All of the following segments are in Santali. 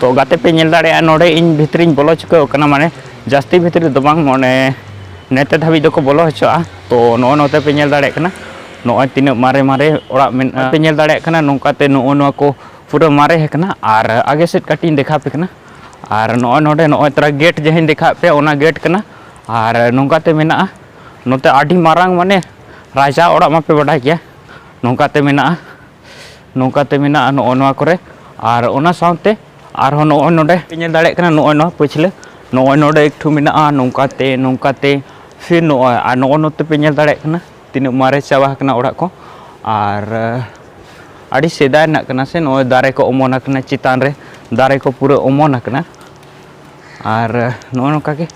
ᱛᱚ ᱜᱟᱛᱮ ᱯᱮ ᱧᱮᱞ ᱫᱟᱲᱮᱭᱟᱜᱼᱟ ᱱᱚᱰᱮ ᱤᱧ ᱵᱷᱤᱛᱨᱤᱧ ᱵᱚᱞᱚ ᱪᱩᱠᱟᱹᱣ ᱠᱟᱱᱟ ᱢᱟᱱᱮ ᱡᱟᱹᱥᱛᱤ ᱵᱷᱤᱛᱨᱤ ᱫᱚ ᱵᱟᱝ ᱢᱟᱱᱮ ᱱᱮᱛᱮ ᱫᱷᱟᱹᱵᱤᱡ ᱫᱚᱠᱚ ᱵᱚᱞᱚ ᱦᱚᱪᱚᱜᱼᱟ ᱛᱚ ᱱᱚᱜᱼᱚ ᱱᱚᱛᱮ ᱯᱮ ᱧᱮᱞ ᱫᱟᱲᱮᱭᱟᱜ ᱠᱟᱱᱟ ᱱᱚᱜᱼᱚᱭ ᱛᱤᱱᱟᱹᱜ ᱢᱟᱨᱮ ᱢᱟᱨᱮ ᱚᱲᱟᱜ ᱢᱮᱱᱟᱜᱼᱟ ᱯᱮ ᱧᱮᱞ ᱫᱟᱲᱮᱭᱟᱜ ᱠᱟᱱᱟ ᱱᱚᱝᱠᱟᱛᱮ ᱱᱚᱜᱼᱚ ᱱᱚᱣᱟ ᱠᱚ ᱯᱩᱨᱟᱹ ᱢᱟᱨᱮ ᱟᱠᱟᱱᱟ ᱟᱨ ᱟᱜᱮ ᱥᱮᱫ ᱠᱟᱹᱴᱤᱡ ᱤᱧ ᱫᱮᱠᱷᱟᱣ ᱯᱮ ᱠᱟᱱᱟ ᱟᱨ ᱱᱚᱜᱼᱚᱭ ᱱᱚᱰᱮ ᱱᱚᱜᱼᱚᱭ ᱛᱚᱨᱟ ᱜᱮᱴ ᱡᱟᱦᱟᱸᱧ ᱫᱮᱠᱷᱟᱣ ᱯᱮ ᱚᱱᱟ ᱜᱮᱴ ᱠᱟᱱᱟ ᱟᱨ ᱱᱚᱝᱠᱟᱛᱮ ᱢᱮᱱᱟᱜᱼᱟ ᱱᱚᱛᱮ ᱟᱹᱰᱤ ᱢᱟᱨᱟᱝ ᱢᱟᱱᱮ ᱨᱟᱡᱟ ᱚᱲᱟᱜ ᱢᱟᱯᱮ ᱵᱟᱰᱟᱭ ᱜᱮᱭᱟ ᱱᱚᱝᱠᱟᱛᱮ ᱢᱮᱱᱟᱜᱼᱟ ᱱᱚᱝᱠᱟᱛᱮ ᱢᱮᱱᱟᱜᱼᱟ ᱱᱚᱜᱼᱚ ᱱᱚᱣᱟ ᱠᱚᱨᱮ ᱟᱨ ᱚᱱᱟ ᱥᱟᱶᱛᱮ ᱟᱨᱦᱚᱸ ᱱᱚᱜᱼᱚᱭ ᱱᱚᱰᱮ ᱯᱮ ᱧᱮᱞ ᱫᱟᱲᱮᱭᱟᱜ ᱠᱟᱱᱟ ᱱᱚᱜᱼᱚᱭ ᱱᱚᱣᱟ ᱯᱟᱹᱪᱷᱞᱟᱹ ᱱᱚᱜᱼᱚᱭ ᱱᱚᱰᱮ ᱮᱠᱴᱩ ᱢᱮᱱᱟᱜᱼᱟ ᱱᱚᱝᱠᱟᱛᱮ ᱱᱚᱝᱠᱟᱛᱮ ᱯᱷᱤᱨ ᱱᱚᱜᱼᱚᱭ ᱟᱨ ᱱᱚᱜᱼᱚ ᱱᱚᱛᱮ ᱯᱮ ᱧᱮᱞ ᱫᱟᱲᱮᱭᱟᱜ ᱠᱟᱱᱟ ᱛᱤᱱᱟᱹᱜ ᱢᱟᱨᱮ ᱪᱟᱵᱟ ᱟᱠᱟᱱᱟ ᱚᱲᱟᱜ ᱠᱚ ᱟᱨ ᱟᱹᱰᱤ ᱥᱮᱫᱟᱭ ᱨᱮᱱᱟᱜ ᱠᱟᱱᱟ ᱥᱮ ᱱᱚᱜᱼᱚᱭ ᱫᱟᱨᱮ ᱠᱚ ᱚᱢᱚᱱ ᱟᱠᱟᱱᱟ ᱪᱮᱛᱟᱱ ᱨᱮ ᱫᱟᱨᱮ ᱠᱚ ᱯᱩᱨᱟᱹ ᱚᱢᱚᱱ ᱟᱠᱟᱱᱟ ᱟᱨ ᱱᱚᱜᱼᱚ ᱱᱚᱝᱠᱟ ᱜᱮ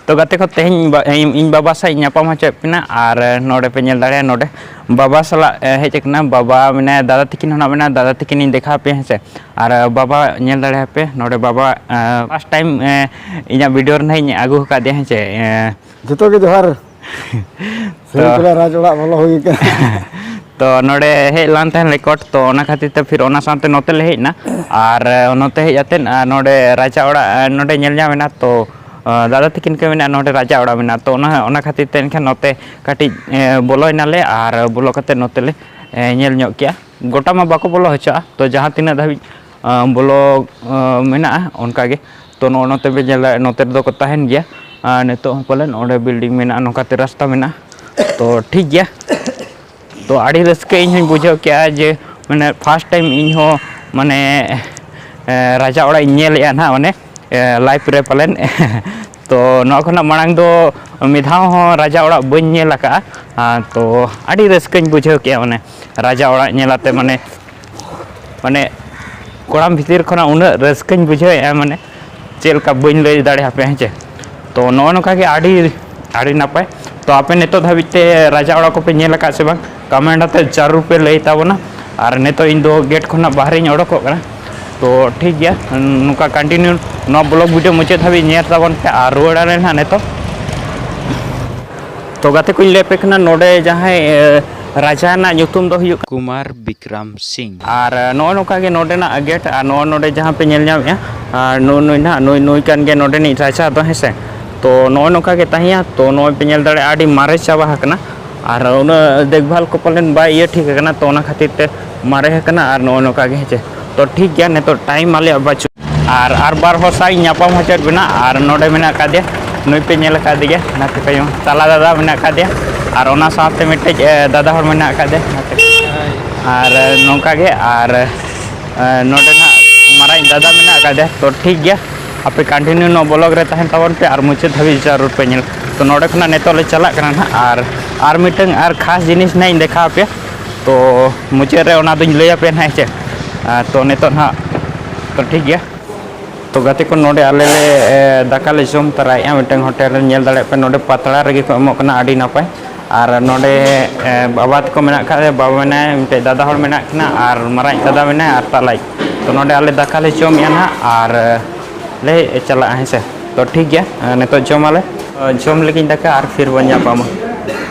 ᱛᱚ ᱜᱟᱛᱮ ᱠᱚ ᱛᱮᱦᱮᱧ ᱤᱧ ᱵᱟᱵᱟ ᱥᱟᱶ ᱤᱧ ᱧᱟᱯᱟᱢ ᱦᱚᱪᱚᱭᱮᱫ ᱵᱮᱱᱟ ᱟᱨ ᱱᱚᱰᱮ ᱯᱮ ᱧᱮᱞ ᱫᱟᱲᱮᱭᱟᱜᱼᱟ ᱱᱚᱰᱮ ᱵᱟᱵᱟ ᱥᱟᱞᱟᱜ ᱦᱮᱡ ᱟᱠᱟᱱᱟ ᱵᱟᱵᱟ ᱢᱮᱱᱟᱭᱟ ᱫᱟᱫᱟ ᱛᱟᱹᱠᱤᱱ ᱦᱚᱸ ᱢᱮᱱᱟᱭᱟ ᱫᱟᱫᱟ ᱛᱟᱹᱠᱤᱱ ᱤᱧ ᱫᱮᱠᱷᱟᱣ ᱯᱮᱭᱟ ᱦᱮᱸᱥᱮ ᱟᱨ ᱵᱟᱵᱟ ᱧᱮᱞ ᱫᱟᱲᱮᱭᱟᱯᱮ ᱱᱚᱰᱮ ᱵᱟᱵᱟ ᱯᱷᱟᱥᱴ ᱴᱟᱭᱤᱢ ᱤᱧᱟᱹᱜ ᱵᱷᱤᱰᱤᱭᱳ ᱨᱮ ᱱᱟᱦᱟᱜ ᱤᱧ ᱟᱹᱜᱩ ᱟᱠᱟᱫᱮᱭᱟ ᱦᱮᱸᱥᱮ ᱡᱚᱛᱚ ᱜᱮ ᱡᱚᱦᱟᱨ ᱥᱮᱨᱮᱧ ᱛᱚ ᱯᱮᱲᱟ ᱨᱟᱡᱽ ᱚᱲᱟᱜ ᱵᱚᱞᱚ ᱦᱩᱭ ᱠᱟᱱᱟ ᱛᱚ ᱱᱚᱰᱮ ᱦᱮᱡ ᱞᱟᱱ ᱛᱟᱦᱮᱸᱱ ᱨᱮᱠᱚᱨᱰ ᱛᱚ ᱚᱱᱟ ᱠᱷᱟᱹᱛᱤᱨ ᱛᱮ ᱯᱷᱤᱨ ᱚᱱᱟ ᱥᱟᱶᱛᱮ ᱱᱚᱛᱮ ᱞᱮ ᱦᱮᱡ ᱮᱱᱟ ᱟᱨ ᱱᱚᱛᱮ ᱦᱮᱡ ᱟᱛᱮᱫ ᱱᱚᱰᱮ ᱨᱟᱡᱟ ᱚᱲᱟᱜ ᱱᱚᱰᱮ ᱧᱮᱞ ᱧᱟᱢ ᱮᱱᱟ ᱛᱚ ᱫᱟᱫᱟ ᱛᱤᱠᱤᱱ ᱠᱚ ᱢᱮᱱᱟ ᱱᱚᱰᱮ ᱨᱟᱡᱟ ᱚᱲᱟᱜ ᱢᱮᱱᱟᱜᱼᱟ ᱛᱚ ᱚᱱᱟ ᱚᱱᱟ ᱠᱷᱟᱹᱛᱤᱨ ᱛᱮ ᱮᱱᱠᱷᱟᱱ ᱱᱚᱛᱮ ᱠᱟᱹᱴᱤᱡ ᱵᱚᱞᱚᱭ ᱱᱟᱞᱮ ᱟᱨ ᱵᱚᱞᱚ ᱠᱟᱛᱮᱫ ᱱᱚᱛᱮ ᱞᱮ ᱧᱮᱞ ᱧᱚᱜ ᱠᱮᱜᱼᱟ ᱜᱚᱴᱟ ᱢᱟ ᱵᱟᱠᱚ ᱵᱚᱞᱚ ᱦᱚᱪᱚᱣᱟᱜᱼᱟ ᱛᱚ ᱡᱟᱦᱟᱸ ᱛᱤᱱᱟᱹᱜ ᱫᱷᱟᱹᱵᱤᱡ ᱵᱞᱚᱠ ᱢᱮᱱᱟᱜᱼᱟ ᱚᱱᱠᱟ ᱜᱮ ᱛᱚ ᱱᱚᱜᱼᱚ ᱱᱚᱛᱮ ᱵᱮᱱ ᱧᱮᱞ ᱫᱟᱲᱮᱭᱟᱜᱼᱟ ᱱᱚᱛᱮ ᱨᱮᱫᱚ ᱠᱚ ᱛᱟᱦᱮᱱ ᱜᱮᱭᱟ ᱟᱨ ᱱᱤᱛᱚᱜ ᱦᱚᱸ ᱯᱟᱞᱮᱱ ᱚᱸᱰᱮ ᱵᱤᱞᱰᱤᱝ ᱢᱮᱱᱟᱜᱼᱟ ᱱᱚᱝᱠᱟᱛᱮ ᱨᱟᱥᱛᱟ ᱢᱮᱱᱟᱜᱼᱟ ᱛᱚ ᱴᱷᱤᱠ ᱜᱮᱭᱟ ᱛᱚ ᱟᱹᱰᱤ ᱨᱟᱹᱥᱠᱟᱹ ᱤᱧ ᱦᱚᱧ ᱵᱩᱡᱷᱟᱹᱣ ᱠᱮᱜᱼᱟ ᱡᱮ ᱢᱟᱱᱮ ᱯᱷᱟᱥᱴ ᱴᱟᱭᱤᱢ ᱤᱧ ᱦᱚᱸ ᱢᱟᱱᱮ ᱨᱟᱡᱟ ᱚᱲᱟᱜ ᱤᱧ ᱧᱮᱞᱮᱜᱼᱟ ᱱᱟᱦᱟᱜ ᱢᱟᱱᱮ ᱞᱟᱭᱤᱯᱷ ᱨᱮ ᱯᱟᱞᱮᱱ ᱛᱚ ᱱᱚᱣᱟ ᱠᱷᱚᱱᱟᱜ ᱢᱟᱲᱟᱝ ᱫᱚ ᱢᱤᱫ ᱫᱷᱟᱣ ᱦᱚᱸ ᱨᱟᱡᱟ ᱚᱲᱟᱜ ᱵᱟᱹᱧ ᱧᱮᱞ ᱟᱠᱟᱫᱼᱟ ᱛᱚ ᱟᱹᱰᱤ ᱨᱟᱹᱥᱠᱟᱹᱧ ᱵᱩᱡᱷᱟᱹᱣ ᱠᱮᱜᱼᱟ ᱢᱟᱱᱮ ᱨᱟᱡᱟ ᱚᱲᱟᱜ ᱧᱮᱞ ᱠᱟᱛᱮᱫ ᱢᱟᱱᱮ ᱢᱟᱱᱮ ᱠᱚᱲᱟᱢ ᱵᱷᱤᱛᱤᱨ ᱠᱷᱚᱱᱟᱜ ᱩᱱᱟᱹᱜ ᱨᱟᱹᱥᱠᱟᱹᱧ ᱵᱩᱡᱷᱟᱹᱣᱮᱫᱼᱟ ᱢᱟᱱᱮ ᱪᱮᱫ ᱞᱮᱠᱟ ᱵᱟᱹᱧ ᱞᱟᱹᱭ ᱫᱟᱲᱮᱭᱟᱯᱮ ᱦᱮᱸ ᱪᱮ ᱛᱚ ᱱᱚᱜᱼᱚ ᱱᱚᱝᱠᱟ ᱜᱮ ᱟᱹᱰᱤ ᱟᱹᱰᱤ ᱱᱟᱯᱟᱭ ᱛᱚ ᱟᱯᱮ ᱱᱤᱛᱚᱜ ᱫᱷᱟᱹᱵᱤᱡ ᱛᱮ ᱨᱟᱡᱟ ᱚᱲᱟᱜ ᱠᱚᱯᱮ ᱧᱮᱞ ᱟᱠᱟᱫ ᱥᱮ ᱵᱟᱝ ᱠᱚᱢᱮᱱᱴ ᱟᱛᱮ ᱡᱟᱹᱨᱩᱲ ᱯᱮ ᱞᱟᱹᱭ ᱛᱟᱵᱚᱱᱟ ᱟᱨ ᱱᱤᱛᱚᱜ ᱤᱧ ᱫᱚ ᱜᱮᱴ ᱠᱷᱚᱱᱟᱜ ᱵᱟᱦᱨᱮᱧ ᱚᱰᱚᱠᱚᱜ ᱠᱟᱱᱟ ᱛᱚ ᱴᱷᱤᱠ ᱜᱮᱭᱟ ᱱᱚᱝᱠᱟ ᱠᱚᱱᱴᱤᱱᱤᱭᱩ ᱱᱚᱣᱟ ᱵᱞᱚᱜ ᱵᱷᱤᱰᱤᱭᱳ ᱢᱩᱪᱟᱹᱫ ᱫᱷᱟᱹᱵᱤᱡ ᱧᱮᱞ ᱛᱟᱵᱚᱱ ᱯᱮ ᱟᱨ ᱨᱩᱣᱟᱹᱲ ᱟᱞᱮ ᱱᱟᱦᱟᱜ ᱱᱤᱛᱚᱜ ᱛᱚ ᱜᱟᱛᱮ ᱠᱚᱧ ᱞᱟᱹᱭ ᱟᱯᱮ ᱠᱟᱱᱟ ᱱᱚᱰᱮ ᱡᱟᱦᱟᱸᱭ ᱨᱟᱡᱟ ᱨᱮᱱᱟᱜ ᱧᱩᱛᱩᱢ ᱫᱚ ᱦᱩᱭᱩᱜ ᱠᱩᱢᱟᱨ ᱵᱤᱠᱨᱟᱢ ᱥᱤᱝ ᱟᱨ ᱱᱚᱜᱼᱚ ᱱᱚᱝᱠᱟ ᱜᱮ ᱱᱚᱰᱮᱱᱟᱜ ᱜᱮᱴ ᱟᱨ ᱱᱚᱜᱼᱚ ᱱᱚᱰᱮ ᱡᱟᱦᱟᱸ ᱯᱮ ᱧᱮᱞ ᱧᱟᱢᱮᱜᱼᱟ ᱟᱨ ᱱᱩᱭ ᱱᱩᱭ ᱱᱟᱦᱟᱜ ᱱᱩᱭ ᱱᱩᱭ ᱠᱟᱱ ᱜᱮᱭᱟ ᱱᱚᱰᱮᱱᱤᱡ ᱨᱟᱡᱟ ᱫᱚ ᱦᱮᱸ ᱥᱮ ᱛᱚ ᱱᱚᱜᱼᱚ ᱱᱚᱝᱠᱟ ᱜᱮ ᱛᱟᱦᱮᱸᱭᱟ ᱛᱚ ᱱᱚᱜᱼᱚᱭ ᱯᱮ ᱧᱮᱞ ᱫᱟᱲᱮᱭᱟᱜᱼᱟ ᱟᱹᱰᱤ ᱢᱟᱨᱮ ᱪᱟᱵᱟ ᱟᱠᱟᱱᱟ ᱟᱨ ᱩᱱᱟᱹᱜ ᱫᱮᱠᱵᱷᱟᱞ ᱠᱚ ᱯᱟᱞᱮᱱ ᱵᱟᱭ ᱤᱭᱟᱹ ᱴᱷᱤᱠ ᱟᱠᱟᱱᱟ ᱛᱚ ᱚᱱᱟ ᱠᱷᱟᱹᱛᱤᱨ ᱛᱮ ᱢᱟᱨᱮ ᱟᱠᱟᱱᱟ ᱟᱨ ᱱᱚᱜᱼᱚ ᱱᱚᱝᱠᱟ ᱜᱮ ᱦᱮᱸᱪᱮ ᱛᱚ ᱴᱷᱤᱠ ᱜᱮᱭᱟ ᱱᱤᱛᱚᱜ ᱴᱟᱭᱤᱢ ᱟᱞᱮᱭᱟᱜ ᱵᱟᱹᱪᱩᱜ ᱟᱨ ᱟᱨ ᱵᱟᱨ ᱦᱚᱲ ᱥᱟᱶ ᱤᱧ ᱧᱟᱯᱟᱢ ᱦᱚᱪᱚᱭᱮᱫ ᱵᱮᱱᱟ ᱟᱨ ᱱᱚᱰᱮ ᱢᱮᱱᱟᱜ ᱟᱠᱟᱫᱮᱭᱟ ᱱᱩᱭ ᱯᱮ ᱧᱮᱞ ᱟᱠᱟᱫᱮ ᱜᱮᱭᱟ ᱱᱟᱛᱮ ᱛᱟᱭᱚᱢ ᱛᱟᱞᱟ ᱫᱟᱫᱟ ᱢᱮᱱᱟᱜ ᱟᱠᱟᱫᱮᱭᱟ ᱟᱨ ᱚᱱᱟ ᱥᱟᱶᱛᱮ ᱢᱤᱫᱴᱮᱡ ᱫᱟᱫᱟ ᱦᱚᱲ ᱢᱮᱱᱟᱜ ᱟᱠᱟᱫᱮᱭᱟ ᱱᱟᱛᱮ ᱟᱨ ᱱᱚᱝᱠᱟ ᱜᱮ ᱟᱨ ᱱᱚᱰᱮ ᱱᱟᱜ ᱢᱟᱨᱟᱝ ᱫᱟᱫᱟ ᱢᱮᱱᱟᱜ ᱟᱠᱟᱫᱮᱭᱟ ᱛᱚ ᱴᱷᱤᱠ ᱜᱮᱭᱟ ᱟᱯᱮ ᱠᱟᱱᱴᱤᱱᱤᱭᱩ ᱱᱚᱣᱟ ᱵᱞᱚᱜ ᱨᱮ ᱛᱟᱦᱮᱱ ᱛᱟᱵᱚᱱ ᱯᱮ ᱟᱨ ᱢᱩᱪᱟᱹᱫ ᱫᱷᱟᱹᱵᱤᱡ ᱡᱟᱹᱨᱩᱲ ᱯᱮ ᱧᱮᱞ ᱛᱚ ᱱᱚᱰᱮ ᱠᱷᱚᱱᱟᱜ ᱱᱤᱛᱚᱜ ᱞᱮ ᱪᱟᱞᱟᱜ ᱠᱟᱱᱟ ᱱᱟᱜ ᱟᱨ ᱟᱨ ᱢᱤᱫᱴᱟᱝ ᱟᱨ ᱠᱷᱟᱥ ᱡᱤᱱᱤᱥ ᱱᱟᱜ ᱤᱧ ᱫᱮᱠᱷᱟᱣ ᱟᱯᱮᱭᱟ ᱛᱚ ᱢᱩᱪᱟᱹᱫ ᱨᱮ ᱚᱱᱟ ᱫᱚᱧ ᱞᱟᱹᱭ ᱟᱯᱮᱭᱟ ᱱᱟᱦᱟᱜ ᱦᱮᱸ ᱪᱮ ᱛᱚ ᱱᱤᱛᱚᱜ ᱱᱟᱦᱟᱜ ᱛᱚ ᱴᱷᱤᱠ ᱜᱮᱭᱟ ᱛᱚ ᱜᱟᱛᱮ ᱠᱚ ᱱᱚᱰᱮ ᱟᱞᱮ ᱞᱮ ᱫᱟᱠᱟ ᱞᱮ ᱡᱚᱢ ᱛᱟᱨᱟᱭᱮᱜᱼᱟ ᱢᱤᱫᱴᱟᱝ ᱦᱳᱴᱮᱞ ᱨᱮ ᱧᱮᱞ ᱫᱟᱲᱮᱭᱟᱜ ᱯᱮ ᱱᱚᱰᱮ ᱯᱟᱛᱲᱟ ᱨᱮᱜᱮ ᱠᱚ ᱮᱢᱚᱜ ᱠᱟᱱᱟ ᱟᱹᱰᱤ ᱱᱟᱯᱟᱭ ᱟᱨ ᱱᱚᱰᱮ ᱵᱟᱵᱟ ᱛᱟᱠᱚ ᱢᱮᱱᱟᱜ ᱠᱷᱟᱡ ᱵᱟᱵᱟ ᱢᱮᱱᱟᱭ ᱢᱤᱫᱴᱮᱡ ᱫᱟᱫᱟ ᱦᱚᱲ ᱢᱮᱱᱟᱜ ᱠᱤᱱᱟ ᱟᱨ ᱢᱟᱨᱟᱝ ᱫᱟᱫᱟ ᱢᱮᱱᱟᱭᱟ ᱟᱨ ᱛᱟᱞᱟᱭᱤᱡ ᱛᱚ ᱱᱚᱰᱮ ᱟᱞᱮ ᱫᱟᱠᱟ ᱞᱮ ᱡᱚᱢᱮᱜᱼᱟ ᱱᱟᱦᱟᱜ ᱟᱨ ᱞᱮ ᱪᱟᱞᱟᱜᱼᱟ ᱦᱮᱸ ᱥᱮ ᱛᱚ ᱴᱷᱤᱠ ᱜᱮᱭᱟ ᱱᱤᱛᱚᱜ ᱡᱚᱢᱟᱞᱮ ᱡᱚᱢ ᱞᱮᱜᱤᱧ ᱫᱟᱠᱟ ᱟᱨ ᱯᱷᱤᱨ ᱵᱚᱱ ᱧᱟᱯᱟᱢᱟ